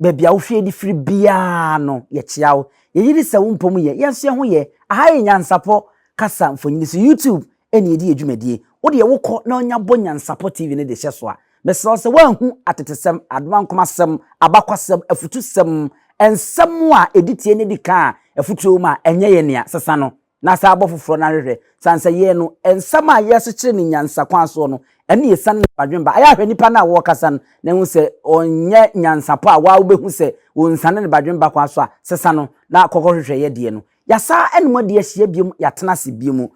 Baabi a wofie de firi biara no, yɛkyea wo. Yɛgye di sɛ wo mpɔ mu yɛ. Yɛn nso yɛn ho yɛ. Aha yɛ Nyansapɔ kasa mfonini so. YouTube na yɛde yɛ dwumadie. Wo deɛ wokɔ na nya bɔ Nyansapɔ TV no de hyɛ so a, mesrɛ wo sɛ woanhu atetesɛm, adomankomasɛm, abakwasɛm, afutusɛm, nsɛm a ɛdi tie na ɛdi kan a afutuo wɔ mu a ɛnyɛ yɛn nea, sesa no. na saa abɔ foforɔ no ahwehwɛ sane sɛ yɛn no nsɛm a yɛrekyekyere no nyansa kwan soɔ no ɛne yɛsane ne badwene ba ayɛ ahwɛ nipa no a wɔrekasa no na ɛhu sɛ ɔnyɛ nyansapɔ a waa wobɛhu sɛ wɔnsane ne badwene ba kwan so a sesa no na kɔkɔ hwehwɛ yɛdeɛ no yɛasa ɛne mu adi ahyia biom yɛatena ase biom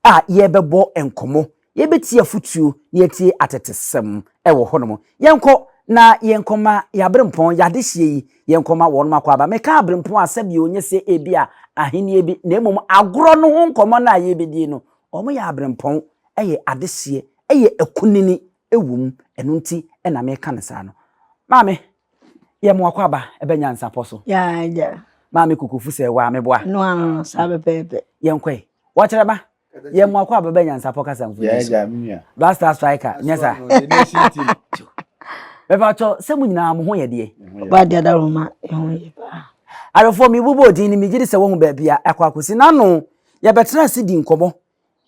a yɛbɛbɔ nkɔmmɔ Yɛbɛtie afotuo na yɛatie atetesɛm wɔ hɔnom. Yɛnkɔ na yɛnkɔma yɛaberempɔn, yɛadehyeɛ yi, yɛnkɔma wɔnom akɔ aba. Meka aberempɔn a sɛdeɛ ɔnyɛ sɛ ebia ahennie bi, na mmom agorɔ no ho nkɔmmɔ no a yɛrebɛdie no, wɔyɛ aberempɔn, ɛyɛ adehyeɛ, ɛyɛ akunini wɔ mu, ɛno nti na meka no saa no. Maame, yɛ mo akɔ aba ɛbɛ nyansapɔ so. Yɛagya. Maame Kokofusɛ, waa meboa? No ano no, saa pɛpɛɛpɛ. Yɛnkɔe. Wɔkyerɛ ba, yɛ mo akɔ abɛbɛ nyansapɔ kasa mfoni so yɛagya me nua black star striker nyɛ sa bɛfa kyɔ sɛ mo nyinaa mo ho yɛ deɛ ɔbaa deɛ da roma ɛho yɛ paa arefoɔ mebobɔ odin no megye di sɛ wɔhu baabi a akɔ akɔsi n'ano yɛbɛtena ase di nkɔmmɔ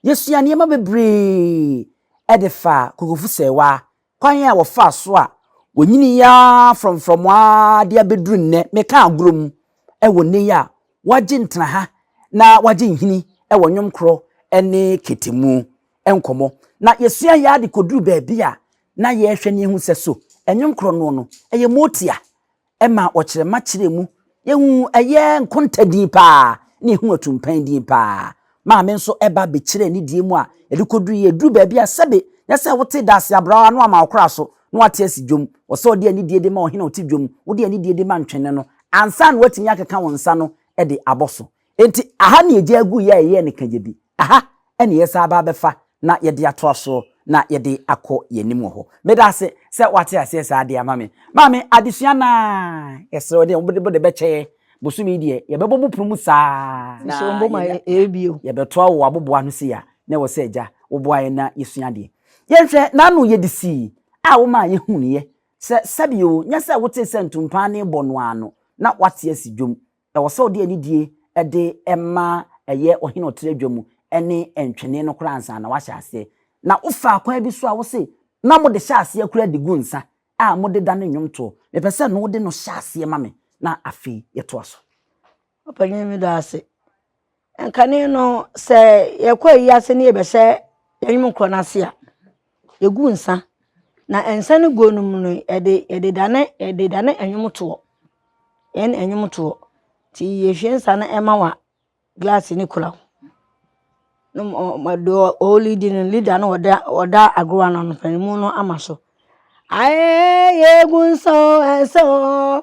yɛsua nneɛma bebree ɛde fa kokofo sɛwa Kwan a wɔfaa so a wɔnyinii ara frɔmfrɔm ara de abɛduru nnɛ, meka agorɔ mu, wɔ nnɛ yi a wɔagye ntena ha na wɔagye nhini wɔ nnwom korɔ ne kete mu nkɔmmɔ. Na yɛsua yɛ ara de kɔduru baabi a na yɛrehwɛ na yɛahu sɛ so nnwom korɔ noɔ no yɛ motia ɛmaa ɔkyerɛma kyerɛ mu. Yɛhu ɛyɛ nkonta din paa ne ɛhu atumpɛn din paa. Maame nso ɛba bɛkyerɛɛ ne deɛ mu a ɛde kɔduru yɛ duru baabi a sɛbe nyɛ sɛ wote Daase Abrawa no ama wo kora so na wate asi dwom. Wɔ sɛ ɔde anidie de ma ɔhene a ɔte dwom, wode anidie de ma ntwene no ansa na watumi akeka wo nsa no de abɔ so. Enti aha na yɛgyaa guu yɛ a yɛyɛɛ no ka gya bi. Aha na yɛsan aba abɛfa na yɛde atoa soɔ na yɛde akɔ yɛn anim wɔ hɔ. Meda ase sɛ woate aseɛ saa de ama me. Maame, adesua no ara, yɛsrɛ wo deɛ wode bɔ de bɛkyɛ yɛn. Bosome yi deɛ, yɛbɛbɔ mu pono mu saa. Na yɛnya, yɛbɛtoa wo aboboa no sei a, na ɛwɔ sɛ Agya, woboa yɛn na yɛsua adeɛ. Yɛnhwɛ n'ano yɛ de sii a womaa yɛhunuiɛ sɛ sɛbe oo, nyɛ sɛ wotee sɛ ntompaa no rebɔ no ara no, na woate asi dwom. Ɛwɔ sɛ ɔde anidie de ma ɛyɛ ɔhene a ɔtrɛ adwa mu ne ntwene no koraa ansa na wahyɛ aseɛ. Na wofaa kwan bi so a wo se na mode hyɛ aseɛ koraa de gu nsa a mode da ne nnwomtoɔ. Mepɛ sɛ no wode no hyɛ aseɛ ma me na afei yɛtoa so. Ɔpanin meda wo ase. Nkane no, sɛ yɛkɔ ayi ase ne yɛbɛhyɛ yɛn nwom korɔ no ase a, yɛgu nsa. Na nsa no guo no mu no, yɛde yɛde dane yɛde dane nwom toɔ. Yɛn nwom toɔ. Nti yɛhwie nsa no ɛma wa glass no kura wo. Na ma deɛ ɔɔlidi no leader no ɔda ɔda agorɔ no ano mpaninmu no ama so. Aɛɛɛɛ yɛgu nsa oo nsa oo.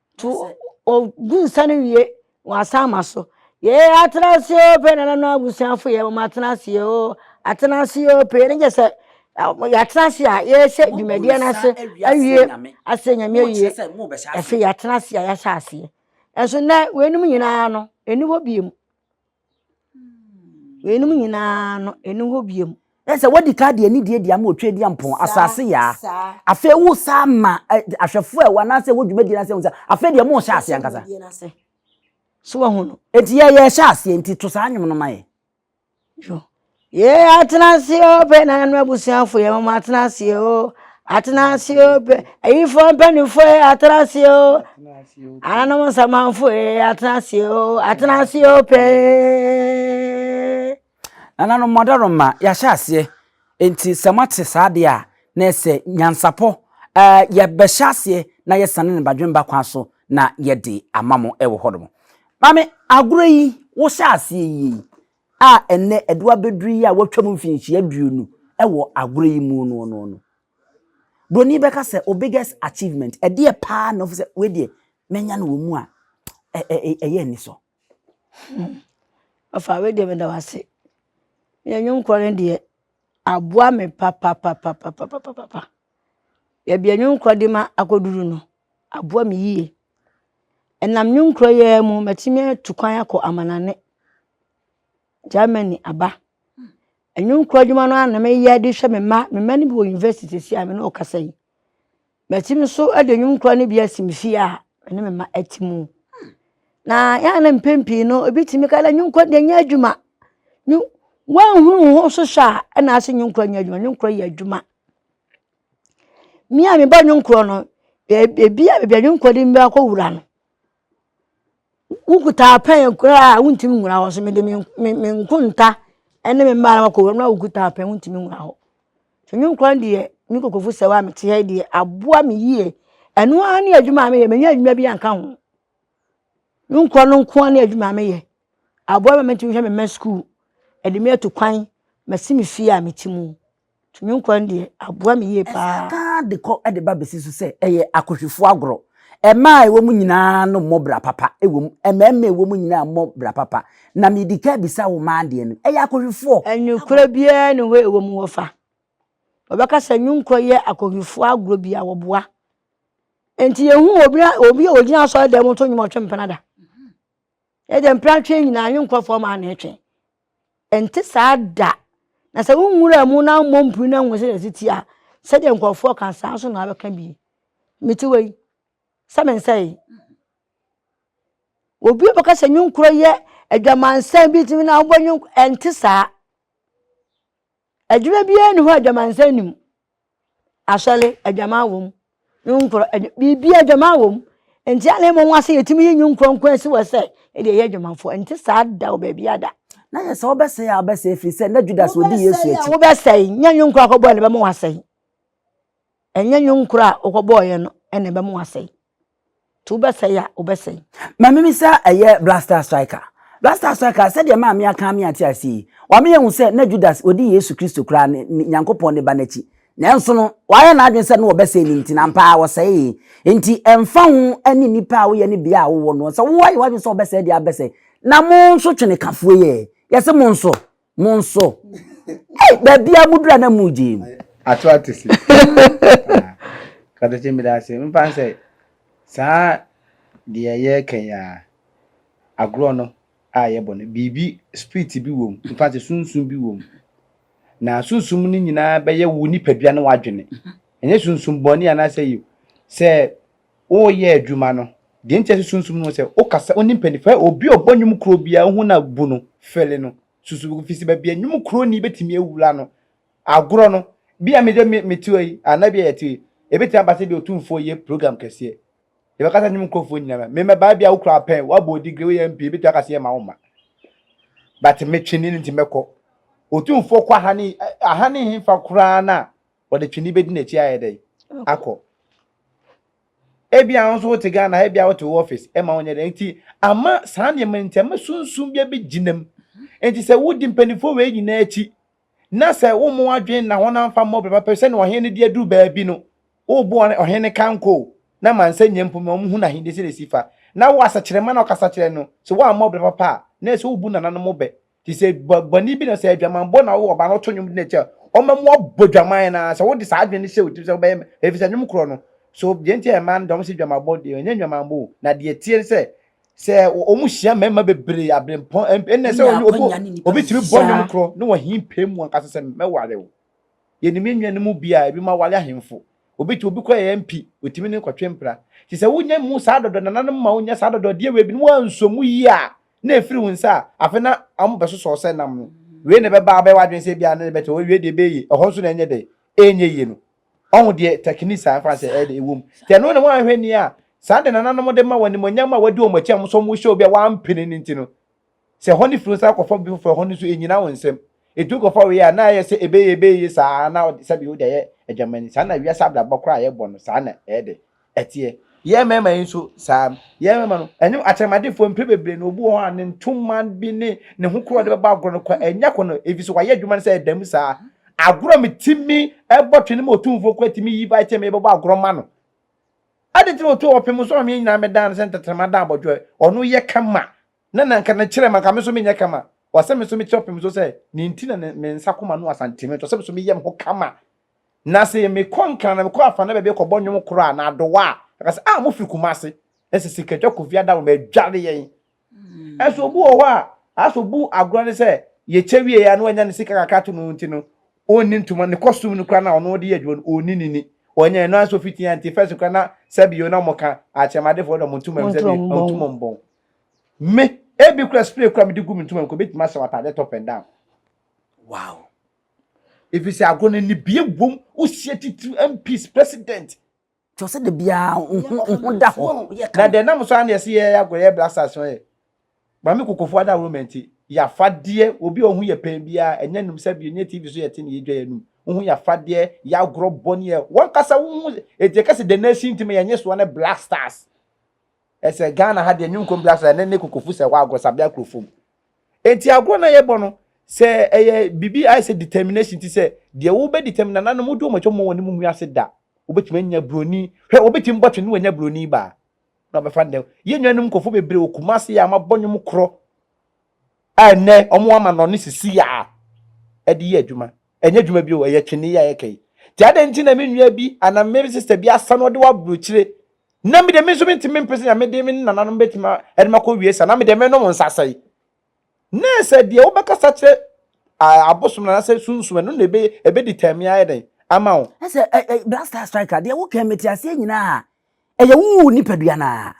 To o gu nsa no wie wɔasan ama so yɛɛ atena ase o pɛ nana no abusuafo yɛ wɔn atena ase o atena ase o pɛ ne gyɛ sɛ yɛatena ase a yɛhyɛ dwumadie no ase awie asɛ nyame awie ɛfei yɛatena ase a yɛahyɛ aseɛ ɛnso nɛ wɔanom nyinaa no ɛni hɔ biem Weinom nyinaa no, ɛni hɔ bio. Ɛ sɛ wadi ka deɛ ne deɛ di ama otwa di ampɔn asase yaa afei wo saa ma ahwɛfoɔ ɛwɔ anaasɛ ɛwɔ dwumadie no ase ho sɛ afei deɛ mo hyɛ aseɛ ankasa so wahu no eti yɛ yɛ hyɛ aseɛ nti to saa nwom no ma yɛ. Yee atena ase oo pɛ nananom abusuafo yɛn mom atena ase oo atena ase oo pɛ ayifoɔ mpanimfoɔ yɛ atena ase oo ananom nsamanfo yɛ atena ase oo atena ase oo pɛɛ. nananom mɔdɔroma yɛahyɛ aseɛ nti sɛ moate saa deɛ a na ɛsɛ nyansapɔ ɛɛ yɛbɛhyɛ aseɛ na yɛsane ne badwemba kwan so na yɛde ama mo ɛwɔ hɔ nom maame agorɔ yi wohyɛ aseɛ yie yi a ɛnnɛ ɛdo abɛduru yi a wɔatwam mfinhyia aduonu wɔ agorɔ yi mu no no no. Buroni bɛka sɛ o biggest achievement, ɛdeɛ paa na ɔfo sɛ wei deɛ manya no wɔ mu a ɛyɛ anisɔ. Ɔfa wei deɛ meda wo ase. Yɛ nnwom korɔ no deɛ aboa me papapapapapapapa. Baabi a nnwom korɔ de ma akɔduru no aboa me yie. Ɛnam nnwonkuo yi ara mu matumi atu kwan akɔ amanane, Germany aba. Nnwonkuo adwuma no ara na meyɛ de hwɛ me mma. Me mma no bi wɔ university seesei a me ne wo rekasa yi. Matumi nso de nnwonkuo no bi asi me fie a me ne me mma te mu. Na ɛyɛ a na mpɛn pii no obi tumi ka dɛ nnwonkuo deɛ ɛnyɛ adwuma. Nwo woanhunu wo ho so hwɛ a ɛna ase nnwonkuo nyɛ adwuma. Nnwonkuo yɛ adwuma. Me a mebɔ nnwom korɔ no, baabi a baabi a nnwom korɔ de me akɔ wura no, wokuta pɛn koraa a wontumi nwura hɔ. So mede me me me nkonta ne me mmaa na makɔ wura no na wokuta pɛn wontumi nwura hɔ. So nnwom korɔ no deɛ me nkurɔfo sɛ wo a mete ha yi deɛ aboa me yie. Ɛno ara ne adwuma a meyɛ mennya adwuma bi anka ho. Nnwom korɔ no nko ara ne adwuma a meyɛ. Aboa me ma metumi hwɛ me mma sukuu, ɛde me atu kwan, masi me fie a mete mu. Tumi nkwa no deɛ, aboa me yie pa ara. Ɛka ara de kɔ de ba bɛsi so sɛ ɛyɛ akohwifoɔ agorɔ. Mmaa a ɛwɔ mu nyinaa no mmɔ bra papa wɔ mu. Mmarima a ɛwɔ mu nyinaa mmɔ bra papa. Na medi ka bisa wo mmaa deɛ no, ɛyɛ akohwifoɔ agorɔ. Nokorɛ biara nni hɔ a ɛwɔ mu wɔfa. Wɔbɛka sɛ Nwunkorɔ yɛ akohwifoɔ agorɔ bi a wɔboa. Enti yɛnhu obi a obi a ɔgyina asɔredan mu to nnwom a ɔtwe mpena da. Ɛdeɛ mpena twe nyinaa Nwunkorɔfoɔ mmaa na ɛtwe. Ɛnte saa da! Na sɛ wonwuraa mu na ammɔ mpire na anhu sɛdeɛ ɛte a, sɛdeɛ nkurɔfoɔ ka saa nso na abɛka bi. Mete hɔ yi sɛ mensɛe. Obi a bɛka sɛ nnwonkorɔ yɛ adwamansan bi tumi na wobɔ nnwonkorɔ ɛnte saa. Adwuma biara nni hɔ a adwamansa nni mu. Asɔre, adwaman wɔ mu. Nnwonkorɔ, biribiara adwaman wɔ mu. Nti a na ɛma wɔn ase yɛtumi yi nnwonkorɔ nko asi hɔ sɛ ɛde ɛyɛ adwamanfoɔ. Ɛnte saa da wɔ baabi ada. Na yɛ sɛ wobɛsɛe a wobɛsɛe ɛfiri sɛ na Judas ɔdi Yesu akyi. Wobɛsɛe a wobɛsɛe, nyɛ nnwonkorɔ akɔbɔɛ na ɛbɛma wasɛe. Ɛnyɛ nnwonkorɔ a wokɔbɔɔeɛ no na ɛbɛma wasɛe. nti wobɛsɛe a wobɛsɛe. Maame bi sa ɛyɛ Blaster Striker. Blaster Striker, sɛdeɛ maame aka ama yɛate aseɛ yi, wama yɛahu sɛ na Judas ɔdi Yesu Kristo koraa ne, ne Nyankopɔn ne ba no akyi. Nanso no, wayɛ n'adwene sɛ na wɔbɛsɛe no nti, na ampa ara wɔsɛee. Enti ɛmfa ho ne nnipa a woyɛ ne bea a wowɔ no, sɛ woayɛ w'adwene sɛ wobɛsɛe deɛ a, wobɛsɛe. Na mo nso twenekafoɔ yi ɛ, yɛse mo nso Mo nso. Ei, baabi a mudura na mugye mu. Ato ate se. Katokye meda ase. Mpa sɛ saa deɛ yɛka yi a agorɔ no a yɛbɔ no biribi spirit bi wom mfa sɛ sunsum bi wom na sunsum no nyinaa bɛyɛ wo nipadua ne w'adwene ɛnyɛ sunsum bɔne anaasɛ yi sɛ Woreyɛ adwuma no, deɛ nti a ɛsɛ sunsum no sɛ wokasa, wone mpanyinfoɔ ɛ, obi a ɔbɔ nnwom koro biara wohu no a bu no fɛle no, susu ho, firi sɛ baabi a nnwom kuroni bɛtumi awura no, agorɔ no, bi a me deɛ me, mete hɔ yi, anaa bi a yɛte hɔ yi, ɛbɛtumi aba sɛ bi a otumfoɔ yɛ program kɛseɛ, yɛbɛka sɛ nnwom kurɔfoɔ nyina ma, me mmɛbaa bi a wo kura pɛn, woabɔ wo degree, woyɛ MP, ɛbɛtumi aka sɛ yɛmma wo mma, but metwe ne no nti mɛkɔ, otumfoɔ kɔ ahane, ahane hefa koraa no a wɔde twene bɛdi n'akyi ayɛ dɛn akɔ ebia nso wote ghana ebia wote wo office ɛma wonyɛ dɛn nti ama saa nneɛma nti ama sunsum bi abɛgyinam nti sɛ wodi mpanimfoɔ wei nyinaa akyi na sɛ wo mu adwene na wɔn amfa mmɔ bɛba pɛ sɛ na ɔhene no de aduru baabi no wobu ɔhene no kanko na mansa nyɛ mpo ma wɔn hu n'ahenni sɛ na ɛsi fa na wo asakyerɛma na ɔkasa kyerɛ no sɛ wɔammɔ bɛba papa a na ɛsɛ wobu nananom bɛ te sɛ bɔne bi na sɛ adwamanbɔ na wowɔ ba no to nnwom de no akyɛ ɔma mu abɔ dwaman na sɛ wode saa adwene no hyɛ wo tirim sɛ wobɛyɛ ɛfiri sɛ nnwom korɔ no so deɛ nti a ɛma no dɔm sɛ dwamanbɔ deɛ ɛnyɛ dwamanbɔ o na deɛ tie sɛ sɛ wɔn hyia mmarima bebree abrempɔn ɛnna sɛ obi tumi bɔ nnwom korɔ ne wɔn hin pɛ mu ankasa sɛ mɛware o yɛnim yɛn nuanom bi a ebi ma ware ahemfo obi te obi kɔ yɛ mpi otumi ne nkɔtwe mpira te sɛ wonya mu saa dɔdɔ nananom ma wonya saa dɔdɔ deɛ wei bi no wɔanso mu yie a na ɛfiri wo nsa a, afei na wɔbɛsosɔ sɛ nam no. Wei na ɛbɛba abɛyɛ w'adwene sɛ ebia na ne bɛtɛ hɔ, wei deɛ ɛbɛyɛ yie, ɛhɔ nso na ɛnyɛ dɛ, ɛnyɛ yie no. Ɔho deɛ techniques a ɛmfa sɛ ɛyɛ dɛ ɛwom. Nti ɛno na woanhwɛ nie a, saa de nananom de ma wɔ animuonyam a wadi wɔn akyi a wɔn nso wɔhyɛ obi a wampene no nti no. Sɛ ɛhɔ no firi wo nsa kɔfa obi foforɔ a, ɛhɔ no nso ɛnnyina wo nsam. Ɛtumi kɔfa wei a, na ayɛ sɛ ɛbɛyɛ yie, ɛbɛyɛ yie saa ara na sɛdeɛ wode ayɛ adwamani. Saa na wiase abrabɔ koraa a yɛbɔ no, saa na ɛyɛ dɛ. Ɛteɛ. Yɛn mmarima yi nso, saa ara. Yɛn mmarima no, ɛnyɛ akyɛnmadefoɔ mprɛ bebree na obi wɔ hɔ a, ne ntoma bi ne ne ho koro a ɔde bɛbɔ agorɔ no koraa, ɛnyɛ kɔ no, ɛfiri sɛ wayɛ adwuma no sɛ ɛda mu saa. Agorɔ a metumi bɔ twene ma otumfoɔ koraa tumi yi bae sɛ merebɛbɔ agorɔ ma no. Adɛn nti na otu a ɔpem nso a me nyinaa medan no sɛ ntɛtɛma da abɔdwoɛ? Ɔno yɛ kama. Na na nka ne kyerɛ ma nka me nso menyɛ kama. Ɔsɛ me nso mekyerɛ ɔpem nso sɛ nea enti na ne nsa koma no asantene nti, ɔsɛ me nso meyɛ me ho kama Na se mekɔ Nkran na mekɔ Afana baabi kɔbɔ nnwom koro a, na Adowa a, aka se, ah, mofiri Kumase? Na se Sikadwa Kofi Adam ma adware yɛn. Nso obi wɔ hɔ a, ayɛ sɛ obu agorɔ ne sɛ, yɛkyɛ wieeɛ a na wanya ne sika kakra to no nti no, ɔnni ntoma, ne kɔstum no koraa no a ɔno de yɛ adwuma no, ɔnni no ni. Ɔnyɛ, ɛno ara nso ɔfiri Tea Nti first koraa na sɛbio na wɔka Akyɛmadefoɔ de wɔn ntoma mu sɛbio na wɔtu wɔn bɔn. Me, ebi koraa spray koraa a mede gu me ntoma mu koraa, ɛbɛtumi ahyɛ w'ataadeɛ top and down. Wow! Efisɛ agorɔ no anibea wom, wosie titiriw MPs, President. Nti ɔsɛ da biara wo ho wo ho da hɔ. Yɛ ka. Na dɛ nam so ara na yɛse yɛyɛ agorɔ, yɛyɛ blasters no yɛ. Maame Kokofo adawuruma nti, y'afadeɛ, obi a wo ho yɛ pɛn biara, ɛnyɛ nom sa bio, ɛnyɛ TV so yɛte na yɛdwa yɛn nom, wo ho yɛ afadeɛ, yɛ agorɔ bɔ ne yɛ. W'ankasa wo ho, enti yɛka sɛ the nation nti ma yɛn nyesoa ne blasters. Ɛsɛ Ghana ha deɛ nwom kɔm bia sɛ ɛnɛ ne kokofu sɛ hɔ agorɔ sabea kuro fam. Enti agorɔ na yɛbɔ no sɛ ɛyɛ bibi ayɛ sɛ determination ti sɛ deɛ wo bɛ determine nananom wodi wɔn atwa mu wɔn ne mu wiase da. Wobɛtumi anya broni hwɛ wobɛtumi bɔ twene wanya broni baa na ɔbɛfa ndɛ. Yɛn nuanom nkɔfo bebree wɔ Kumasi a mabɔ nwom korɔ A Ɛnnɛ, wɔama no ne sisi a ɛde yɛ adwuma. Ɛnyɛ adwuma bio, ɛyɛ twene yi a yɛka yi. Nti adɛn nti na me nua bi anaa me sista bi asa na ɔde wɔ aburokyire, na me deɛ me nso mentumi mpe sɛ nea me de me ne nananom bɛtumi de me akɔ wie saa, na me deɛ menom nsa sɛe? Nɛɛ sɛ deɛ wobɛkasa kyerɛ ah, abosom no anaasɛ sunsum ɛno na ɛbɛ ɛbɛdi tɛmee ayɛ dɛn ama wo. Ɛsɛ ɛ ɛ Black Star Striker deɛ wokɛn mete aseɛ nyinaa. Ɛyɛ wo wo nipadua no ara.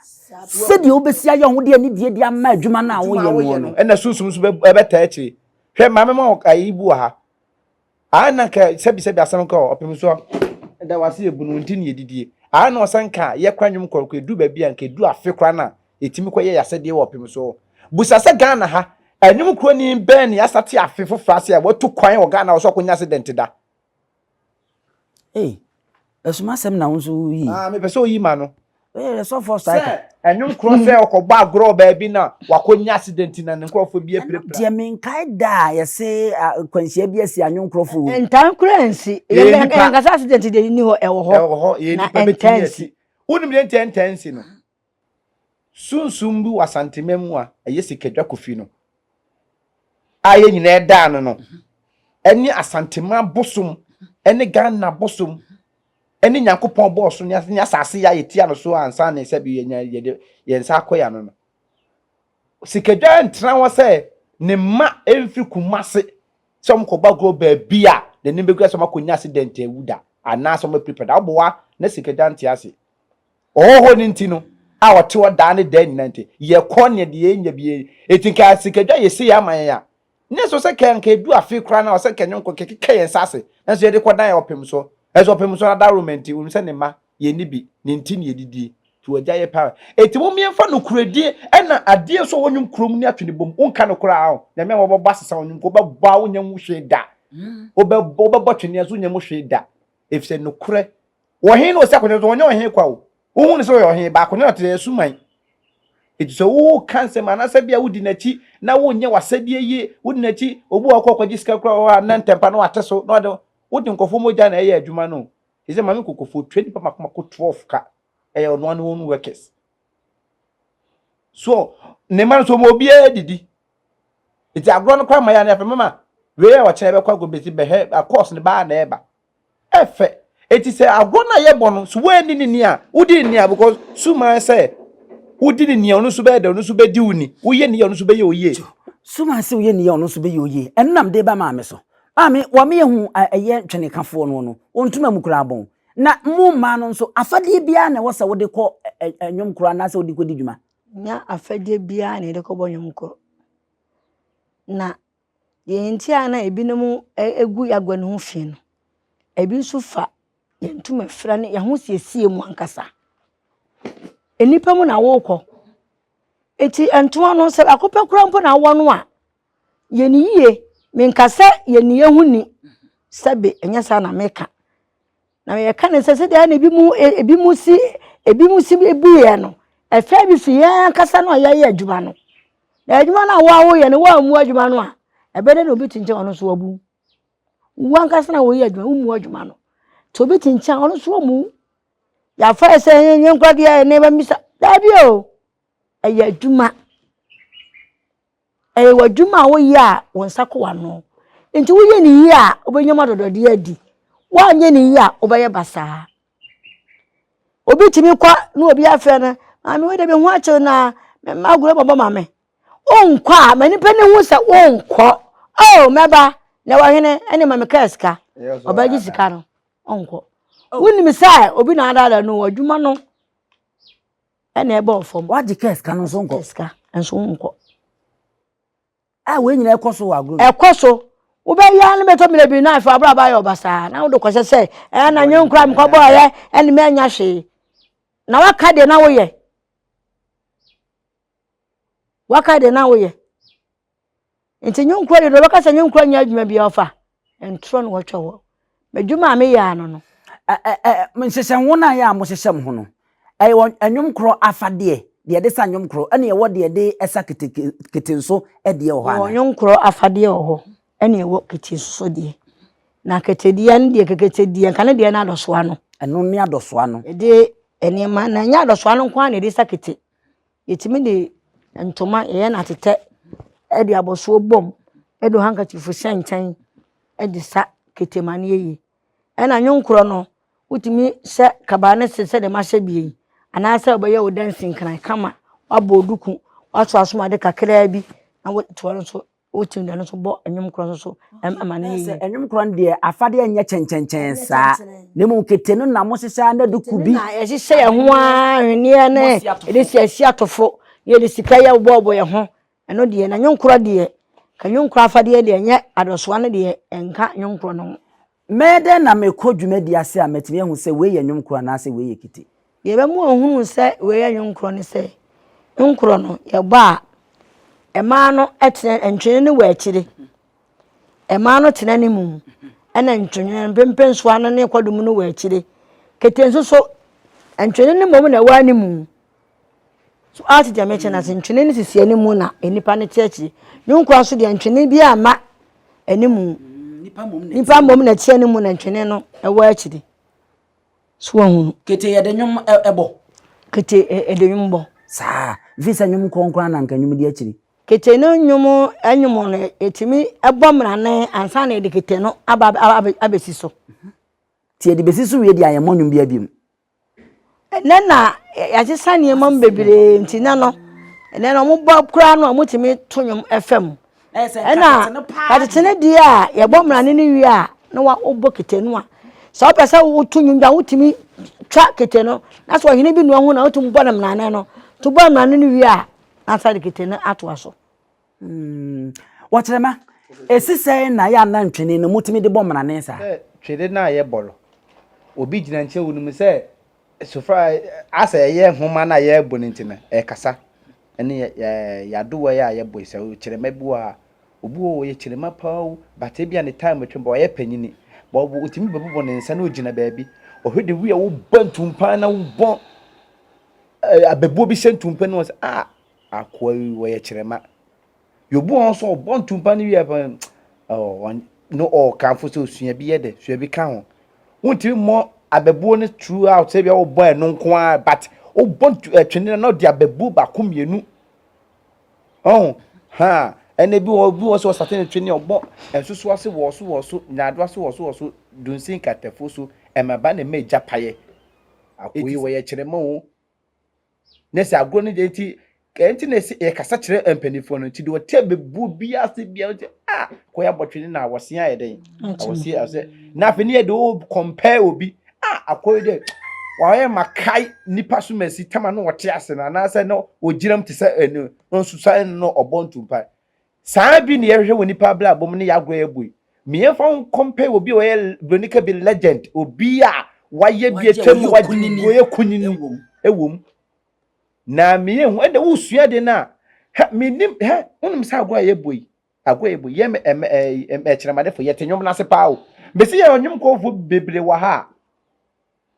Sɛdeɛ wobɛsi ayɛ wo ho de anidie de ama adwuma no a woyɛ noɔ no. Ɛna sunsum nso bɛtaa akyire. Hwɛ maame ma ayi bu wɔ ha. Aa na nka sɛbisɛbi asɛm nka ɔ ɔpem so da wase yɛ bu no nti ne yɛdidie. Aa na ɔsan ka yɛ kora nnwom kɔrɔkɔ ɛdu baabi a nka ɛdu afe kora no a yɛtumi kɔ yɛ yɛasɛdeɛ wɔ ɔpem so. Busa sɛ Ghana ha, nnwom kuroni bɛn ne asa te afe foforɔ ase a watu kwan wɔ Ghana wɔ sɛ ɔkɔnya accident da. Hey, ɛsoma asɛm na wo nso woyi. Ah, mepɛ sɛ oyi ma no. Hey, ɛsɔfoɔ striker. Sɛ ɛnwo nkorɔ sɛ ɔkɔbɔ agorɔ wɔ baabi na wakɔnya accident na ne nkorɔfoɔ bi apirapira. Deɛ menkae da a yɛse nkwanhyia bi asi anwo nkorɔfoɔ o. Ntan kora nsi. Yɛnkasa accident deɛ nni hɔ, ɛwɔ hɔ. Ɛwɔ hɔ, yɛn nipa bɛtumi asi. Wonim deɛ nti ɛntaa nsi no? Sunsum bi wɔ Asanteman mu a ɛyɛ Sikadwa Kofi no a yɛn nyinaa daa no no ne Asanteman bosom ne Ghana bosom ne Nyankopɔn bɔɔ so ne asase a yɛtia no so ansa na sɛbi yɛnya yɛde yɛn nsa akɔ yɛn ano no. Sikadwa ntra hɔ sɛ ne mma mfiri Kumase sɛ wɔn kɔbɔ agorɔ baabi a n'anim bɛgu sɛ wɔn akɔnya accident awu da anaasɛ wɔn apiripira da. Woboa na Sikadwa nte ase. Ɔhɔho no nti no, a ɔte hɔ daa ne daa nyinaa nti, yɛkɔ nea deɛ yɛnya bi yɛ. Enti nka sikadwa yɛ sei ama yɛn a, nyɛ sɛ ɔsɛ ka nka ɛdu afe koraa no a ɔsɛ ka ɛnyɛ nko kɛkeka yɛn nsa ase, nanso yɛde kɔdan yɛn ɔpem so. Nanso ɔpem so no adaworoma nti, wonim sɛ ne mma, yɛnni bi, ne nti na yɛdidie. Nti wɔagya yɛ paa. Enti mommie mfa nokorɛdie ɛna adeɛ nso a wɔnwom kurom ne ato ne bom. Wonka no koraa aho. Nyame a wɔbɛbɔ asesa wo nyom nka wobɛbɔ a wonnya mu hwee da. Wobɛbɔ, wobɛbɔ twene nso wonnya mu hwee da. Efisɛ nokorɛ, ɔhene na ɔsi akodeɛ so, ɔnyɛ ɔhene kwa o. Wohu no sɛ ɔyɛ ɔhene, baako na ɔte asuman. Enti sɛ woka nsɛm anaasɛ bia wodi n'akyi na wonyɛ w'asɛdeɛ yie, wodi n'akyi, obi wɔ hɔ kɔ kɔgye sika kura wɔ hɔ a na ntɛmpa na wate so na ɔde wode nkɔfoɔ mogya na ɛyɛ adwuma no o. Ɛsɛ maame kɔkɔfoɔ tua nipa mako mako 12 ka. Ɛyɛ ɔnoa ne wɔn workers. So ne ma no so ɔma obiara didi. Eti agorɔ no kɔ ama yɛ anaa fɛ mama wei a ɔkyena ɛbɛkɔ agorɔ besi bɛ hɛ a course no baa na ɛba ɛfɛ eti sɛ agorɔ no a yɛbɔ no so woanni ne ni a wodi ne ni a because suman sɛ wodi ne ni a ɔno nso bɛyɛ dɛ ɔno nso bɛdi wo ni woyɛ ne yɛ ɔno nso bɛyɛ wo yie. Suman sɛ woyɛ ne yɛ ɔno nso bɛyɛ wo yie ɛno nam de ba maame so maame wɔ me yɛ hu ɛyɛ ntwenekafoɔ no no wɔn ntoma mu koraa bɔn na mo mmaa no nso afadeɛ biara na ɛwɔ sɛ wode kɔ ɛnwom koro anaasɛ wode kɔdi dwuma. Nnyɛ afɛgye biara na yɛde kɔbɔ nnwom kɔ. Na deɛ nti a na ebinom gu agua no ho fi no, ebi nso fa yɛn ntoma fra ne yɛn ahosiesie mu ankasa. Nnipa mu na wokɔ. Enti ntoma no sɛ baako pɛ koraa mpo na wowɔ no a, yɛ no yie. Menka sɛ yɛ nneyɛɛ ho nni, sɛbe ɛnyɛ saa na meka. Na yɛka no sɛ sɛdeɛ na ebi mu ebi mu si ebi mu si buiɛ no ɛfɛ bi fi yɛn ankasa no a yɛayɛ adwuma no na adwuma no a wɔawoyɛ no wɔammu adwuma no a ɛbɛdɛ na obi kyinkyin ɔno nso wabu wo ankasa na wɔyɛ adwuma wommu adwuma no nti obi kyinkyin ɔno nso ɔmu yɛafa yɛ sɛ yɛnyɛ nkora deɛ ne bɛmisa daabi o ɛyɛ adwuma Ɛyɛ w'adwuma a woyɛ a wo nsa kɔ w'ano. Enti woyɛ no yie a, wobɛnya mu adɔdɔdeɛ adi. Woanyɛ no yie a, wobɛyɛ basaa. Obi tumi kɔ na obi afrɛ no, maame wei de me ho akyew na me mma agorɔ bɔbɔ ma me. Wonkɔ a, ma nipa no hu sɛ wonkɔ. Oh, mɛba, na wɔhene ɛne ma me kaa sika. Ɔbɛgye sika no, ɔnkɔ. Wonim sɛ obi na adaadaa no, adwuma no. ɛna ɛbɔɔ fam. wagye kaa sika no nso nkɔ. kaa sika nso nkɔ. a wɔn nyinaa ɛkɔ so wɔ agorɔ. ɛkɔ so wobɛyɛ no bɛtɔ mmerɛ bi na afei abrabɔ ayɛ ɔbasaa na wode kɔhyɛ sɛ ɛɛ na nyɛ nkura mekɔbɔɔyɛ ɛne mɛnya hwee na waka deɛ na woyɛ waka deɛ na woyɛ Ntsi nye nkoa yɛ edwuma ɔbɛka sɛ nye nkoa nnyɛ edwuma biara ɔfa ntorɔ na ɔtwa hɔ edwuma a meyɛ ano no. Ɛ ɛ ɛ Nhyehyɛ nwon a yɛ a mohyehyɛ mo ho no, ɛyɛ wɔ nwom korɔ afadeɛ, deɛ yɛde sa nwom korɔ, ɛne ɛwɔ deɛ yɛde sa keteke kete nso deɛ wɔ hɔ anaa? Yɛwɔ nwom korɔ afadeɛ wɔ hɔ, ɛne ɛwɔ kete nso so deɛ. Na kete deɛ no deɛ kekete deɛ nka ne deɛ no adɔsoa no. Ɛno ne adɔsoa no. Yɛde nneɛma na ɛnyɛ adɔsoa no nko ara na yɛde sa kete. Yɛtumi de ntoma yɛyɛ no atetɛ de abɔsoɔ bɔ mu de handkerchief hyɛ nkyɛn de sa kete ma no yɛ yie. Ɛna nwenkorɔ no, wotumi hyɛ kaba no ase sɛdeɛ mahyɛ bi yi anaasɛ wobɛyɛ wo dansinkran kama, wabɔ duku, woaso asom ade kakra bi na woatoa no so. Wotumi de ɛno nso bɔ nnwom korɔ nso so ma no yɛ yie. Sɛ nnwom korɔ no deɛ afadeɛ nyɛ kyɛnkyɛnkyɛn saa na mmom kete no na mohyehyɛ ara na de ku bi. Yɛhyehyɛ yɛn ho ara ahweneɛ ne yɛde si asi atofo na yɛde sika yɛ bobɔbobɔ yɛn ho ɛno deɛ na nnwom korɔ deɛ ka nnwom korɔ afadeɛ deɛ nyɛ adɔsoa no deɛ ɛnka nnwom korɔ no ho. Mɛyɛ dɛn na mekɔ dwumadi ase a matumi ahu sɛ wei yɛ nnwom korɔ anaasɛ wei yɛ kite? Deɛ ɛbɛma wahunu sɛ wei yɛ nnwom korɔ ne sɛ, nnwom korɔ no yɛbɔ a, mmaa no tena, ntwene no wɔ akyire. Mmaa no tena ne mu, ɛna ntwene no, mpempensoa no ne kwadwom no wɔ akyire. Kete nso so, ntwene no mmom na ɛwɔ anemu. So ate deɛ mekyɛ no ase? Ntwene no sisi animu na nnipa no te akyire. Ne nkoa so deɛ ntwene bi amma animu. Nnipa mmom na ɛte animu na ntwene no ɛwɔ akyire. So wɔhunu. Kete yɛde nnwom ɛbɔ. Kete ɛde nnwom bɔ. Saa. Mfiri sɛ nnwom kronkron na nka nnwom di akyiri. Kete no nnwom nnwom no ɛtumi ɛbɔ mmrane ansa na yɛde kete no aba abɛsi so. Nti yɛde bɛsi so wie deɛ a yɛmmɔ nnwom biara biom. Ɛnnɛ na yɛasesa nneɛma mu bebree nti nnɛ no ɛnnɛ no wɔbɔ koraa no a wɔtumi to nnwom fa mu ɛna katete no deɛ a yɛbɔ mmrane no wie a na wobɔ kete no a sɛ wopɛ sɛ woto nnwom a wotumi twa kete no na sɛ ɔhene bi nua ho na wotumi bɔ no mmrane no to bɔ mmrane no wie a na asa de kete no atoa so. Mm, wɔkyerɛma. Esi sɛn na yɛ anan twene no motumi de bɔ mmrane saa? Sɛ twene no a yɛbɔ no, obi gyina nkyɛn wonim sɛ sofra asɛ ɛyɛ nhoma no a yɛbɔ no nti no ɛkasa. Ɛne yɛ yadowa yi a yɛbɔ yi sɛ kyerɛma bi wɔ ha, obi wɔ ɔyɛ kyerɛma paa o, but ebi a ne time atwam ba ɔyɛ panyini. Ba ɔbɔ otumi bɛbobɔ ne nsa na ogyina baabi. Ɔhwɛ de wi a wobɔ ntumpa na wobɔ abɛbuo bi hyɛ ntumpa no wɔn sɛ ah akoa yi wɔyɛ kyerɛma yobu wɔn so ɔbɔ ntumpa no wie pɛn no ɔkamfo sɛ osua bi yɛ dɛ sua bi ka ho wontumi mmɔ abɛbuo no throughout sɛ bia wobɔ ɛno nko ara but wobɔ twene no na ɔde abɛbuo baako mmienu ɔho ha ɛna bi wɔ bi wɔ sɛ ɔsate no twene ɔbɔ nsoso ase wɔ so wɔ so nyaado ase wɔ so wɔ so dunsin katafo so ɛmaba na ɛma agya payɛ akoyi wɔyɛ kyerɛma o na sɛ agorɔ no deɛ nti nti na ɛsɛ yɛkasa kyerɛ mpanimfoɔ no nti deɛ ɔte abebuo bi ase bia nti a kɔ yɛ abɔtwene na awɔse ayɛ dɛn awɔse asɛ na afei ne yɛ de o compare obi a akɔyɛ dɛ wɔayɛ ma kae nipa so ma si tama no ɔte ase no anaasɛ no ɔgyinam te sɛ ɛnu nso sɛ no ɔbɔ ntumpa Saa ara bi na yɛhwehwɛ wɔ nnipa abrabɔ mu ne yɛn agoa a yɛbɔ yi. Ma yɛmfa ho nkɔmpare obi a ɔyɛ buroni ka bi legend, obi a wayɛ bi atwa mu, wagye ngu, ɔyɛ kunini wom. Na ma yɛnhu, ɛnna wosua ade no a, hɛ, menim, hɛ, wonim sɛ agoa a yɛbɔ yi, agoa a yɛbɔ yi, yɛ me, ɛm, ɛm, akyinamadefo, yɛte nnwom no ase paa o. Mese yɛn nnwom kɔɔfo bebree wɔ ha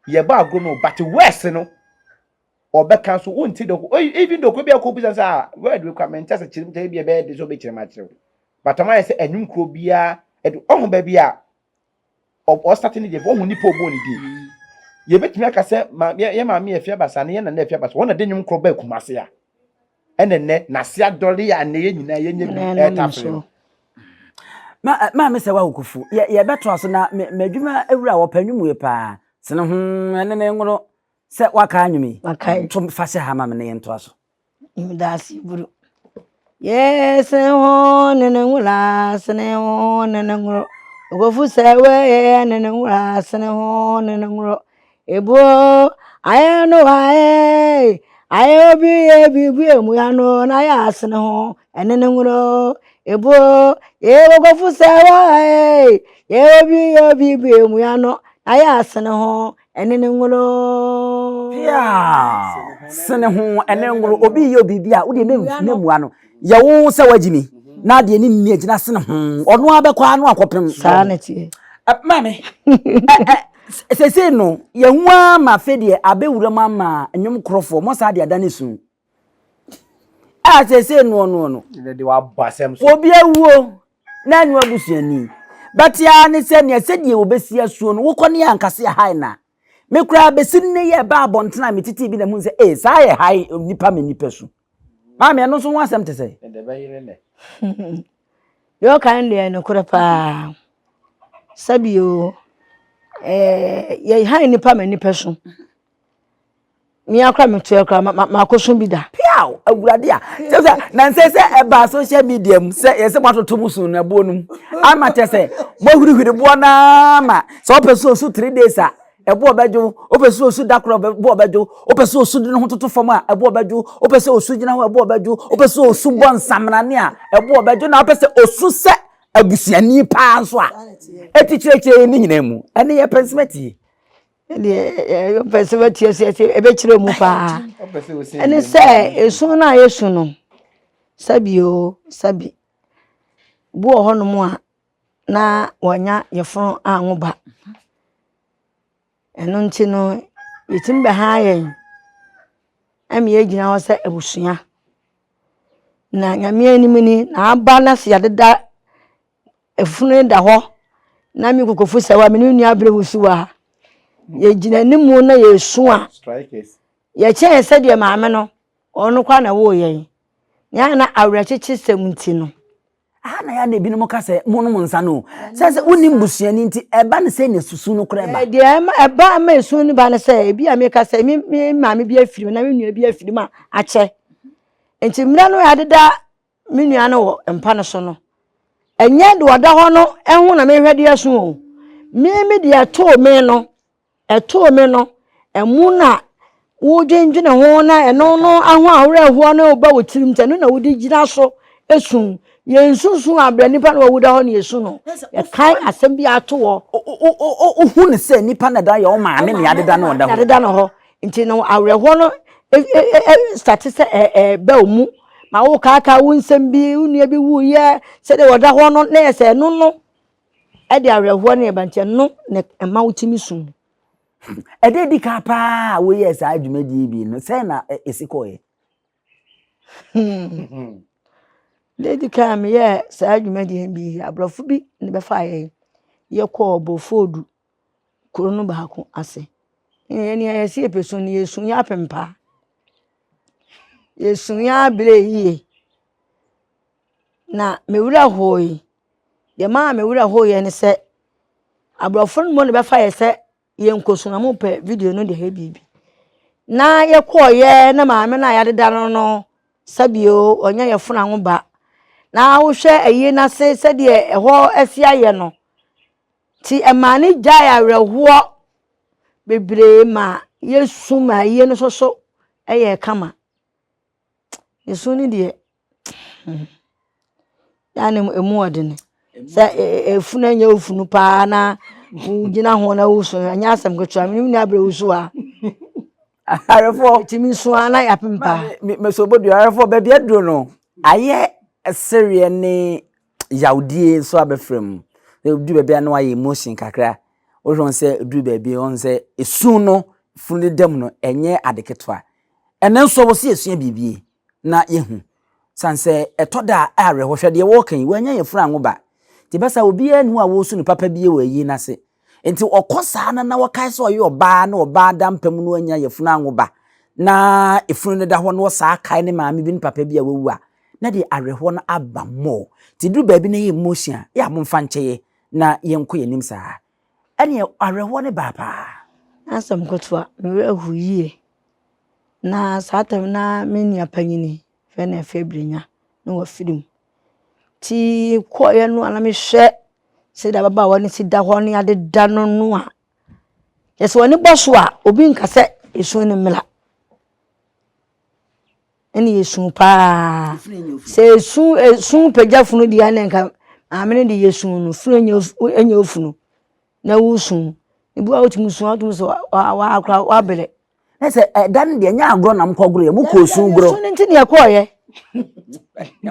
a, yɛbɔ agorɔ no o, but West no, ɔbɛka so wonte dɛ even though kɔ bi a kɔbisa sɛ ah word wei kora mente ase kyerɛ mu kyerɛ bi a ɛbɛyɛ de sɛ wobɛkyerɛ mu akyerɛ wo but ɔma yɛ sɛ ɛnwom kuro biara ɛde ɔho baabi a ɔstate ne deɛ fo ɔho nipa ɔbɔ ne din mm. yɛbɛtumi aka sɛ yɛ maame yɛ afia basa ne yɛ nana afia basa wɔn na de nwom korɔ baa kuma ase a ɛnɛ nnɛ n'ase adɔre a nnɛ yɛ nyinaa yɛnyɛ bi ɛretafere no maame sɛ woawokofu yɛbɛtoa so na m'adwuma awura wɔpɛ nwom wei paa sene ho ɛne me nworo Sɛ wakae anwom yi. Wakae. To fa sɛ ha ma me na yɛntoa so. Mdaase bro. Yɛsene ho ne ne nwura sene ho ne ne nworo. Ogofu sɛ wɛyɛ ne ne nwura sene ho ne ne nworo. Ebuo ayɛ no ayɛ ayɛ obi yɛ biribi emu ya no na ayɛ asene ho ɛne ne nworo. Ebuo yɛ ogofu sɛ wɛyɛ yɛ obi yɛ biribi emu ya no na ayɛ asene ho ɛne ne ngoloo. Yeah. Sene ho ɛne ngolo obi yɛ obi bi a wode ne ne mua no yɛ wo sɛ wagye ni na adeɛ ne nni agyina sene ho ɔno abɛkɔ ano akɔpem. Saa ne teɛ. Maame sese no yɛn ho ara ma afei deɛ abɛwura mu ama nnwom korɔfoɔ mo saa deɛ ada ne sun. a seesei noɔnoɔ no obi awuo na ɛnyɛ abusuani bɛte ara ne sɛ nea sɛdeɛ wɔbɛsi asuo no wokɔ ne yɛ ankase ɛhae na me koraa bɛsi nne yɛ ɛbaa abɔntene a metete bi na mu sɛ ee saa yɛ hae nipa me nipa su maame ɛno nso ho asɛm te sɛ deɛ ɔka no deɛ nokorɛ paa sɛbio eh, yɛ hae nipa me nipa su me ara koraa meto yɛ koraa ma makɔsɔ bi da. Piaw awurade a kyɛ sɛ na nsɛ sɛ ɛbaa social media mu sɛ yɛ sɛ moatoto mo so na boɔ no mu ama kyɛ sɛ moahurihuri boɔ no ara ma sɛ wopɛ sɛ ɔsu three days a ɛboɔ bɛdwo wopɛ sɛ ɔsu da korɔ ɛboɔ bɛdwo wopɛ sɛ ɔsu de ne ho toto fam a ɛboɔ bɛdwo wopɛ sɛ ɔsu gyina hɔ ɛboɔ bɛdwo wopɛ sɛ ɔsu bɔ nsamanane a ɛboɔ bɛdwo na wopɛ sɛ ɔsu sɛ abusuani paa nso a ɛti kyerɛkyerɛ ne nyinaa mu ɛne yɛ pɛnsɛmɛti deɛ ɔpɛ sɛ watia sɛ ɛbɛkyerɛ mu paa ɛne sɛ ɛsu no a yɛsu no sɛbi o sɛbi bi wɔ hɔnom a na wɔanya yɛfono anwo ba ɛno nti no yɛtumi bɛha yɛn ɛma yɛgyina hɔ sɛ abusua na nyame anim ni na aba no ase yɛdeda Ɛfunu da hɔ na me kokofo sɛ wa me ne nua abere wusu wɔ ha. Yɛgyina anim na yɛsu a yɛkyɛn sɛdeɛ maame no ɔno kwa na ɛwɔ yɛn. Yɛn na awerɛkyekye sɛm nti no. Aha na yɛn na ebinom ka sɛ monom nsa no. Sɛ sɛ wonim busuani nti ɛba no sɛ na susu no kora ba. Deɛ ɛma ɛba ɛma esu no ba no sɛ ebi a meka sɛ me me maame bi afiri mu na me nua bi afiri mu a akyɛ. Nti mmerɛ no yɛadeda me nua no wɔ mpa no so no, ɛnyɛ deɛ ɔda hɔ no ho na mehwɛ de asu o. Me me deɛ ɛtoo me no, ɛtoo me no, ɛmu na wodwendwene ho na ɛno no aho awerɛhoɔ no reba wo tirim sɛ ɛno na wode gyina so esu. Yɛnsusu abrɛ nipa na wawu da hɔ na yɛsu no. Yɛkae asɛm bi ato hɔ. Wohu no sɛ nipa na da yɛ wo maame na yɛadeda no ɔda hɔ. Yɛadeda no hɔ. Nti no awerɛhoɔ no sate sɛ ɛba wo mu ma wokaakaa wo nsɛm bi wo nua bi wuiɛ sɛdeɛ wɔda hɔ no na yɛ sɛ ɛno no ɛde awerɛhoɔ no ɛba nti ɛno na ɛma wotumi sum ɛde di kan paa a woyɛɛ saa dwumadie bi no sɛn na ɛsi kɔɔeɛ lady kan a meyɛɛ saa dwumadie bi aborɔfo bi ne bɛfa yɛn yɛkɔɔ bofoodu kuro no baako ase. Yɛn deɛ yɛse yɛpɛ su no, yɛsu yɛ apem paa. Yɛsu yɛ aberɛ yie. Na me werɛ hooe. Deɛ ɛmaa me werɛ hooeɛ ne sɛ, aborɔfo no mmom na bɛfa yɛ sɛ yɛnkɔsu na wɔpɛ video no de yɛ biribi. Na yɛkɔeɛ na maame no a yɛadeda no no, sɛbio ɔnyɛ yɛ fona ho ba. Na wohwɛ ayie no ase sɛdeɛ ɛhɔ asi ayɛ no, Nti ɛmaa no gyae awerɛhoɔ bebree ma yɛsu ma ayie no nso so yɛɛ kama. Ne su no deɛ hmm na ne mu yɛ den. Sɛ efunu nyɛ wo funu paa na wogyina ho na wosu no ɛnyɛ asɛm ketewa. Me ne me nua Abrɛ wosu a. Aharefo. Tumi nso ara na yɛapem pa. Mesobodua aharefo baabi aduro no ayɛ sereɛ ne yawdie nso abɛfra mu. Edu baabi a na wayɛ emotion kakra. Wohwɛ sɛ edu baabi wɔn sɛ esu no funu ne dam no ɛnyɛ ade ketewa. Ɛnɛ nso wɔsi esua biribi. na yɛahu. Sane sɛ ɛtɔ da a awerɛhoɔ, hwɛ deɛ wɔreka yi, wɔanya yɛn funu anwo ba. Nti bɛsa obiara nni hɔ a wɔresu no papa bie wɔ ayie no ase. Nti ɔkɔ saa na na wɔkae sɛ ɔyɛ ɔbaa na ɔbaa da mpa mu na wanya yafunu anwo ba na efunu no da hɔ na ɔsaa kae ne maame bi ne papa bi a wawu a, na deɛ awerɛhoɔ no aba more. Nti duru baabi na ɛyɛ emotion a, yɛ a momfa nkyɛeɛ na yɛnkɔ yɛn anim saa. ɛnneɛ awerɛhoɔ no baa paa. Na asɛm nketewa, me werɛ hoo yie. Na saa tam no na me nua panin fɛ no Afia Brenya na wafiri mu. Nti kɔeɛ no a na mehwɛ sɛdeɛ ababaawa no si da hɔ ne adeda no no a, kyerɛ sɛ w'ani bɔ so a, obi nka sɛ ɛsuo no mmra. ɛna yɛ su paa sɛ esu esu pagya funu deɛ ɛna nka maame no de yɛ su no funu nyɛ nyɛ ofunu na wosu ebi wɔ hɔ a wotumi su a wotumi sɛ wakora wabrɛ. na sɛ ɛda no deɛ nyɛ agorɔ na mokɔ gorɔ yɛ mokɔ osu gorɔ. ɛsu no nti na ɛkɔɔ yɛ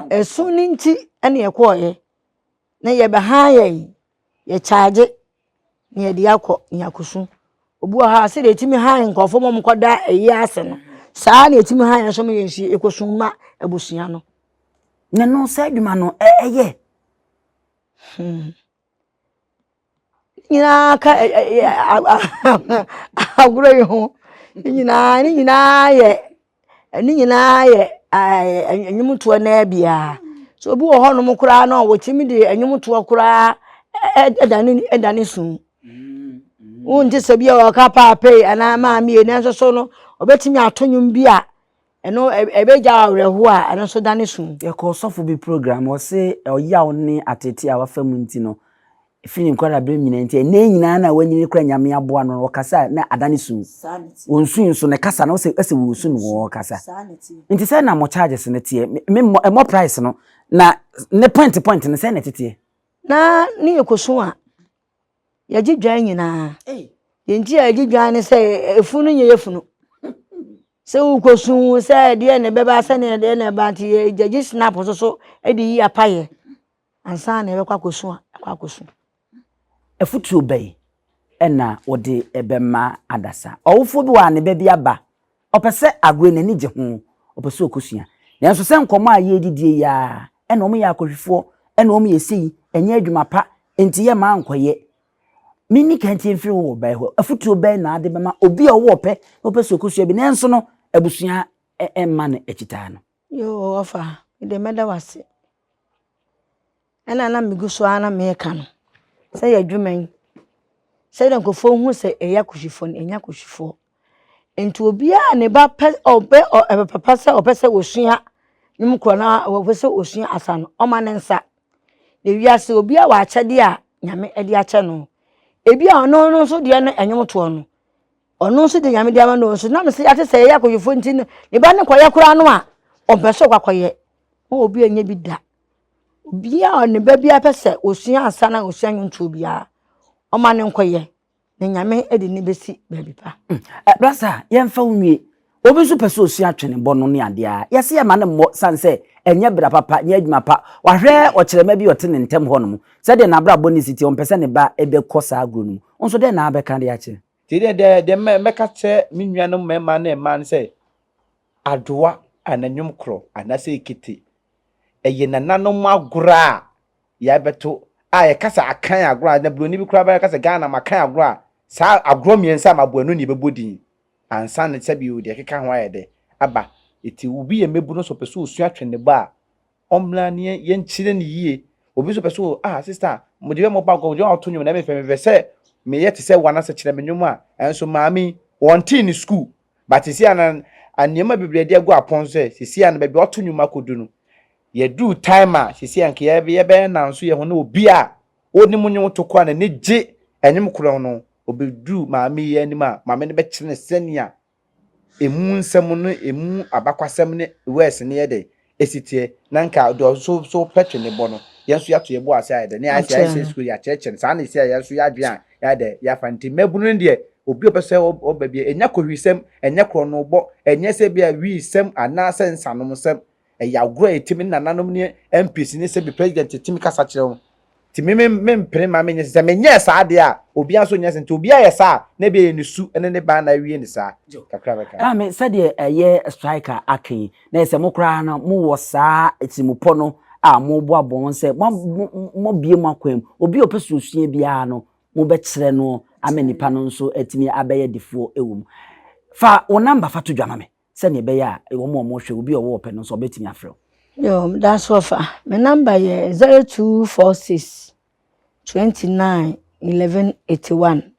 ɛsu no nti ɛna ɛkɔɔ yɛ na yɛ bɛ han yɛ yi. yɛkyaagye na yɛde akɔ nyakosu. Obi wɔ hɔ a sɛdeɛ ɛtumi han nkurɔfoɔ ma wɔkɔda ayie ase no, saa ara na ɛtumi han yɛn nso ma yɛn nso yɛkɔsu ma abusua no. Na ɛno saa adwuma no ɛyɛ. Hmm. nyinaa ka agorɔ yi ho ne nyinaa ne nyinaa yɛ ɛno nyinaa yɛ ɛɛ nnwomtoɔ no ara bi ara. So obi wɔ hɔnom koraa no a, ɔtumi de nnwomtoɔ koraa dane dane su. Wonte sɛ bi a wɔka paapei anaa maame ei, nanso so no, ɔbɛtumi ato nnwom bi a ɛno ɛbɛgya wo awerɛhoɔ a ɛno nso dane su. Yɛkɔɔ ɔsɔfo bi program, ɔse ɔyaw ne ateetee a wafa mu nti no, Efi ne nkwadaa-berɛ mu nyinaa nti, ɛnnɛ nyinaa na wanyin no kora Nyame aboa no, ɔkasa a, na adane sum. Ɔnsui nso, ne kasa no, ɔsɛ, ɔsɛ wɔn sum wɔn kasa. Nti sɛn na mo charges no teɛ? Me, me, ɛmmɔ price no, na ne point point no sɛn na ɛteteɛ? Na ne yɛkɔsu a, yɛgye dwan nyinaa. Deɛ nti a yɛgye dwan ne sɛ, efunu no nyɛ yɛ funu. sɛ wokɔsu sɛ ɛdeɛ na ɛbɛba sɛdeɛ ɛdeɛ na ɛba nti yɛgye snap nso so de yi apayɛ Ansa na yɛbɛkɔ akɔsu a, yɛakɔ akɔsu. Afotuo bɛn na wode bɛma adasa? Ɔwofoɔ bi wɔ ha a ne ba bi aba, ɔpɛ sɛ agoyɛ no n'ani gye ho, ɔpɛ sɛ ɔkɔsua. Nanso sɛ nkɔmmɔ a yɛredidie yi ara, ɛna wɔyɛ akɔhwifoɔ, ɛna wɔyɛ sei, ɛnyɛ adwuma pa, enti yɛmma ankɔyɛ. Menni ka ntie mfiri wo ba yi hɔ. Afotuo bɛn na wode bɛma obi a ɔwɔ ɔpɛ na ɔpɛ sɛ ɔkɔsua bi nanso no abusua mma no akyitaa no? Yehowa, me deɛ mɛda wo ase. Ɛna na megu so ara na mereka no sɛ yɛ adwuma yi, sɛdeɛ nkurɔfoɔ hu sɛ ɛyɛ akɔhwifoɔ no, ɛnyɛ akɔhwifoɔ. Nti obiara ne ba pɛ ɔbɛ ɛbɛ papa sɛ ɔpɛ sɛ ɔsua ne mu korɔ na ɔpɛ sɛ ɔsua asa no, ɔma ne nsa. Na wiase obiara wɔ akyɛdeɛ a Nyame de akyɛ no. Ebi a ɔno no nso deɛ no ɛnwom toɔ no, Ɔno nso de nyame de ama no nso nam sɛ yɛate sɛ ɛyɛ akɔyɛfoɔ nti no ne ba no kɔyɛ koraa no a ɔmpɛ sɛ ɔkɔakɔyɛ ma obi anyɛ bi da obiaa ne ba biaa pɛ sɛ ɔsua ansa na ɔsua nwontoɔ biaa ɔma no nkɔyɛ na nyame de ne bɛsi baabi pa hmm. eh, brasa yɛmfa wo nwie obi nso pɛ sɛ ɔsua atwene bɔ no ne adeɛ a yɛse yɛma no mmɔ sane sɛ ɛnyɛ bra papa nyɛ adwuma pa wahwɛ ɔkyerɛma bi ɔte ne ntɛm hɔ no mu sɛdeɛ n'abrabɔ ne siti ɔmpɛ sɛ ne ba bɛkɔ saa agorɔ no mu nso dɛn na abɛka de akyerɛ Nti deɛ deɛ deɛ mɛ mɛka kyerɛ me nuanom mmarima ne mmaa no sɛ adowa anaa nnwom korɔ anaasɛ ekete ɛyɛ nananom agorɔ a yɛabɛto a yɛka sɛ akan agorɔ a na buroni bi koraa bɛka sɛ Ghana makan agorɔ a saa agorɔ mmiɛnsa a maboa no na yɛbɛbɔ din ansa na sɛbi o deɛ ɛkeka ho ayɛ dɛ aba eti obi yɛ mmabunu nso ɔpɛ sɛ osua twene bɔ a ɔmmra ne yɛn yɛnkyerɛ no yie obi nso pɛ sɛ ah sista mede bɛ mɔba agorɔ mede bɛ ato nnwom na mepɛ mepɛ sɛ meyɛ te sɛ wɔn anasɛ kyerɛ me nnwom a ɛnso maame yi wɔntee ne sukuu but sisi a na nneɛma bebree de agu apɔn sɛ sisi a no baabi ɔto nnwom akɔdu no yɛduu time a sisi a nka yɛbɛyɛ nanso yɛ ho ne obi a ɔnim nnwom to koraa n'ani gye ɛnwom korɔ no obɛduu maame yi anim a maame no bɛkyerɛ ne sɛnea emu nsɛm no, emu abakwasɛm ne words no yɛ dɛ, esi teɛ, na nka deɛ ɔno nso so pɛ twe ne bo no, yɛn nso yɛato yɛn bo ase ayɛ dɛ, ne ayɛ sɛ Akyerɛ yɛahyɛ no. sukuu, yɛakyerɛkyerɛ no, saa na esi a yɛn nso yɛn adwene a yɛayɛ dɛ yɛafa no. Nti mmabunu no deɛ, obi a ɔpɛ sɛ ɔb ɔba biara, ɛnyɛ kowirisɛm, ɛnyɛ korɔnobɔ, ɛnyɛ sɛ ebia wiisɛm anaasɛ nsanomsɛm, Ɛyɛ agorɔ a ɛtim ne nananom ne MPs ne sɛbi president tim kasa kyerɛ wo nti me me mpene ma menyɛ sɛ menyɛɛ saa deɛ a obiara nso nyɛ sɛ nti obiara yɛ saa a na ɛbi ɛyɛ ne su ne ne ban na awie ne saa kakra bɛka. Ɛma me sɛdeɛ ɛyɛ strike a aka yi na ɛyɛ sɛ mo koraa no mo wɔ saa tirimupɔ no a mo bɔ abɔ ho sɛ mo mo bue mo akwan mu obi a ɔpɛ suasua biara no mo bɛ kyerɛ noɔ ama nipa no nso atumi abɛyɛ defoɔ ɛwɔ mu. Fa wo number fa to dwa ma me. sɛnea ɛbɛyɛ a wɔn a wɔhwɛ obi a ɔwɔ ɔpɛ no nso ɔbɛtumi afrɛ wo. Yoo, meda so ɔfa. Me number yɛ zero two four six twenty nine eleven eighty one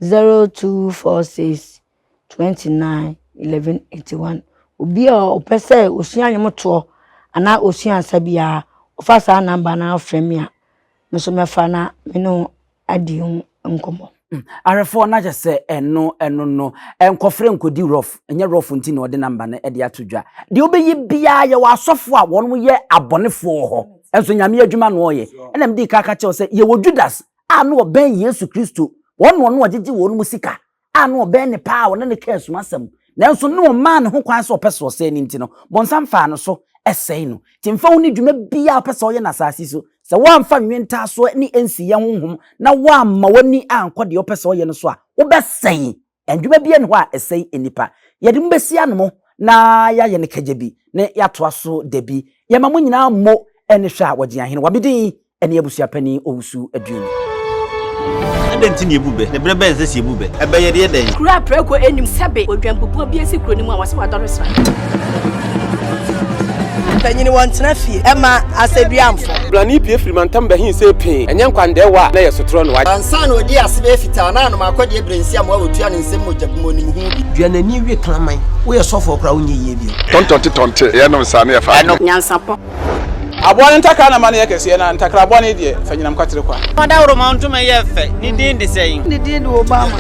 zero two four six twenty nine eleven eighty one. Obi a ɔpɛ sɛ osua nnwom toɔ anaa osua nsa biara, ɔfa saa number no ara frɛ me a. me nso mɛfa na me ne wo adi ho nkɔmmɔ. Hmm, awerɛfoɔ no akyɛ sɛ ɛno ɛno no nkɔfrɛ nkɔdi rɔf ɛnyɛ rɔf nti na ɔde namba no ɛde ato dwa deɛ wobɛyi biara yɛwɔ asɔfoɔ a wɔn yɛ abɔnefoɔ wɔ hɔ ɛnso nyame adwuma na ɔyɛ ɛna mede kaka kyɛw sɛ yɛwɔ judas a na ɔbɛn yesu kristo wɔn na ɔno ɔgyegye wɔn mu sika a na ɔbɛn no paa a ɔne no kaa sum asɛm. Nanso na ɔmmaa ne ho kwan sɛ ɔpɛ sɛ ɔsɛe no nti no, Bonsam faa no so sɛe no. Enti mfa wo ne dwuma biara a wopɛ sɛ woyɛ no asase so, sɛ woamfa nnwentaasoɔ ne nsiyɛ honhom na woamma w'ani ankɔ deɛ wopɛ sɛ woyɛ no so a, wobɛsɛe. Adwuma biara nni hɔ a ɛsɛe nnipa. Yɛde mo bɛsi ano mo na yɛayɛ no kagya bi na yɛatoa so da bi. Yɛma mo nyinaa mo ani hwɛ a wɔgye ahene wɔ me din ne abusua panin Owusu Aduani. Adɛn nti na yɛbu bɛ? Na berɛ bɛn sɛ sɛ yɛbu bɛ? Ɛbɛ yɛde yɛ dɛn? Kuro a prɛko nnim sɛbe odwanpopua bi asi kuro no mu a wɔse wadɔre sra. Mpanyini wɔntena fie ɛma asɛduamfo. Brane pue firi mantam bɛhe sei pee, ɛnyɛ nkwandɛɛwa a na ɛyɛ sotorɔ na wagye. Ansa na ɔdi ase bɛyɛ fitaa na anom akɔ deɛ brensi amoa a wɔtua no nsam mogya gu mu ɔnim ho bi. Dua n'ani we kraman. Woyɛ sɔfoɔ koraa wonyɛ yie bio. Tɔntɔnte tɔnte yɛnom saa na yɛfa adwene. Nyansapɔ. Aboa no ntakra na ma no yɛ kɛseɛ, na ntakra bɔne deɛ, fa nyinam kwatere kwa. Fa dawuroma ntoma yɛ fɛ, ne din de sɛn? Ne din de Obama.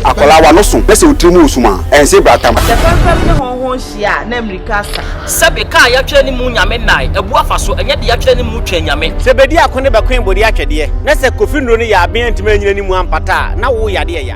Akwadaa w'ano so na sɛ wo tiri mu resum a, ɛnse brata ma. Sɛ fɛmfɛm ne hɔnhɔn hyia a, na mmirika asa. Sɛbe kaa a yɛatwerɛ ne mu Nyame nnae, abu afa so, ɛnyɛ de yɛatwerɛ ne mu Twɛn Nyame. Sɛ bedi ako ne bɛkoe bodi atwɛdeɛ, na sɛ kofi nnuro no yɛ aben antumi annyina ne mu ampata a, na wo yadeɛ ya.